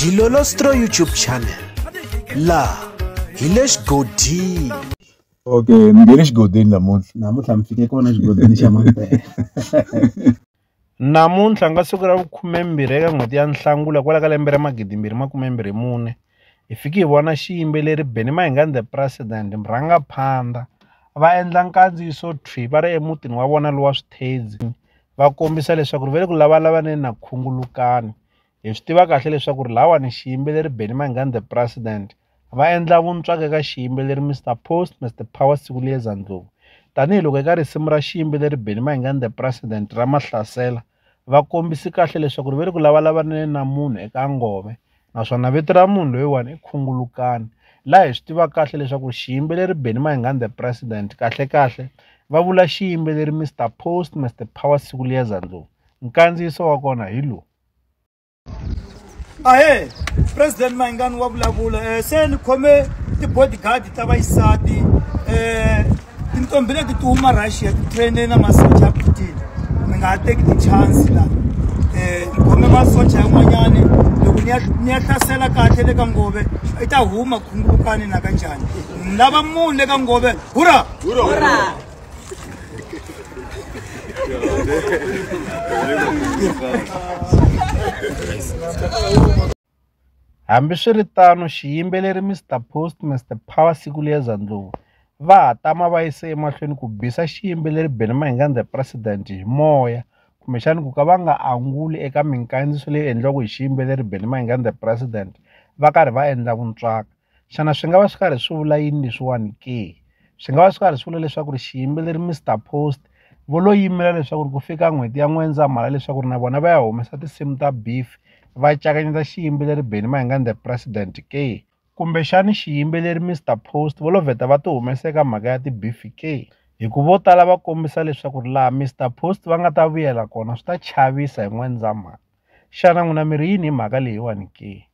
dilolostro youtube channel laha hi le xigodini okay ni nge le xigodini namuntlha namuntlha mi fike kona xigodini xa mampela namuntlha nga siku ra vukhumembirhi eka n'hweti ya nhlangula kwala ka lembe ra magidimbirhi makumembirhi mune hi fiki hi vona xiyimbeleri beni mahingani the president murhanga phanda va endla nkandziyiso thwi va ri emutini wa vona lowa swithedzi va kombisa leswaku ri va le ku lavalavaneni na khungulukani hi swi tiva kahle leswaku ri lawani xiyimbeleri Benny Mayengani the president va endla vuntswaka eka xiyimbeleri Mr Post Mr Power Sikuliyeza Ndlovu tanihiloko eka risimu ra xiyimbeleri Benny Mayengani the president ra mahlasela va kombisi kahle leswaku ri va le ku lavalavaneni na munhu eka ngome naswona vito ra munhu loyiwani i khungulukani laha hi swi tivaka kahle leswaku xiyimbeleri Benny Mayengani the president kahle kahle va vula xiyimbeleri Mr Post Mr Power siku liya zandloo nkandziyiso wa kona hi lowu ahe president Mayengani wa vulavula eh, se ni khome ti-bodyguard ta vayisati um eh, tinqombhi leti ti huma russia titraine na masocha ya putin mi nga ha teki tichance la um khome masocha yan'wanyani loko ni ya hlasela kahle le ka ngove i ta huma khungulukani na ka njhani ni lava munhu le ka ngove hura Hambiswiritano, xiyimbeleri Mister Post Mister Power siku leza Ndlovu va ha tama va yise emahlweni ku bisa xiyimbeleri Benny Mayengani The President hi moya kumbexani ku ka va nga anguli eka minkandziyiso leyi endliwaka hi xiyimbeleri Benny Mayengani The President va karhi va endla vuntswaka. xana swi nga va swi karhi swi vula yini leswiwani ke swi nga va swi karhi swi vula leswaku ri xiyimbeleri Mister Post vo lo yimela leswaku ri ku fika n'hweti ya N'wendzamhala leswaku ri na vona va ya humesa tinsimu ta beef va cakanyeta xiyimbeleri Benny Mayengani the president ke kumbexani xiyimbeleri Mister Post vo lo vheta va ti humesa eka mhaka ya ti-beef ke hi ku vo tala va kombisa leswaku ri laha Mister Post va nga ta vuyela kona swi ta chavisa hi N'wendzamhala xana n'wina mi ri yini hi mhaka leyiwani ke.